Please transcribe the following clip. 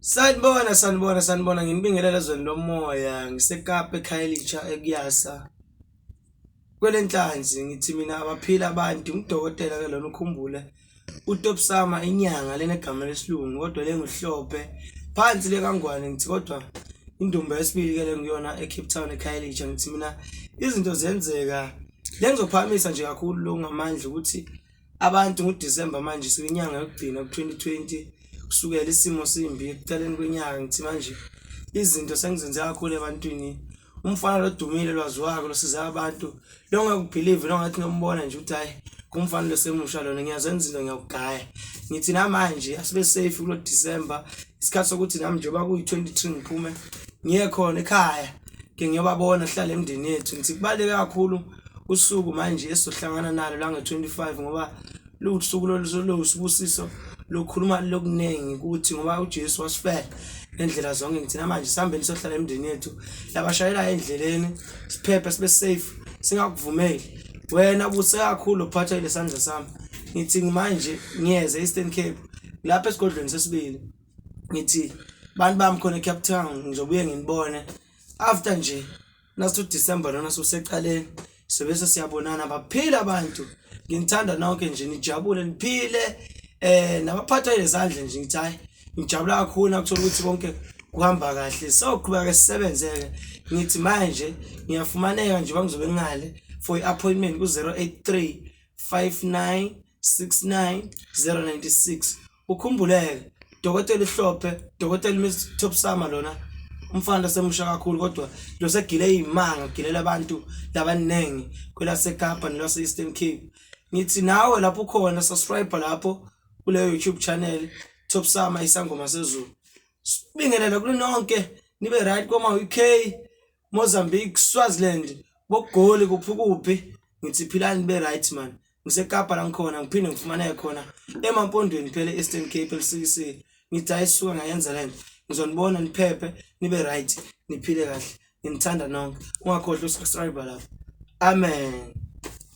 Sanibona sanibona sanibona nginibingelela ezweni lomoya ngiseKapa eKhayelitsha ekuyasa kwelenhlanzi ngithi mina abaphila abantu ngidokotela ke lona ukhumbule utopsama inyanga lena egama lesilungu kodwa lenguhlophe phansi lekangwane ngithi kodwa indumba yesibili ke lengiyona eCape Town eKhayelitsha ngithi mina izinto zenzeka lengizophakamisa nje kakhulu lo ngamandla ukuthi Abantu ngoDisemba manje sekuyinyanga yokugcina ku-2020 kusukela isimo simbi ekuqaleni kwenyanga ngithi manje izinto sengizenze kakhulu ebantwini umfana lodumile lwaziwako losiza abantu longakubhilivi longathi nombona nje ukuthi hhayi kumfana losemusha lona ngiyazenza into ngiyawugaya ngithi namanje asibe safe kulo December isikhathi sokuthi nami njengoba kuyi-23 ngiphume ngiye khona ekhaya ke ngiyobabona hlale emndeni yethu ngithi kubaluleke kakhulu usuku manje esizohlangana nalo la nge-25 ngoba luwusuku lolusibusiso lokukhuluma lokuningi ukuthi ngoba uJesu wasifela ngendlela zonke ngithina manje sihambeni sohlala emndeni yethu labashayela endleleni siphephe sibe safe singakuvumeli wena buse kakhulu uphatha lesandla sami ngithi manje ngiyeze Eastern Cape lapha esigodlweni sesibili ngithi bantu bami khona eCape Town ngizobuye nginibone after nje nasu December lona soseqaleni sebese siyabonana baphile abantu nginithanda nonke nje nijabule niphile eh nabaphatha izandla nje ngithi hayi ngijabula kakhulu nakuthola ukuthi konke kuhamba kahle soqhubeka ke sisebenzeke ngithi manje ngiyafumaneka nje bangizobe ngale for i-appointment ku-083 59 69096 ukhumbuleke dokotela ihlophe dokotela Miss Top Summer lona umfana semusha kakhulu kodwa lo segile izimanga gilela abantu labaningi kwelaseKapa nelase Eastern Cape ngithi nawe lapho ukhona subscribe lapho kule YouTube channel Top Summer isangoma sezulu sibingelela kulononke nibe right koma UK Mozambique, Swaziland, boGoli kuphi ukuphi ngithi philani be right man. NgiseKapa la ngikhona ngiphinde ngifumaneke khona emampondweni phela e-Eastern Cape elisikisile. Ngithi hayi suka ngayenza lento. Ngizonibona niphephe nibe right niphile kahle. Nginithanda nonke. Ungakhohlwa usubscribe lapha. Amen.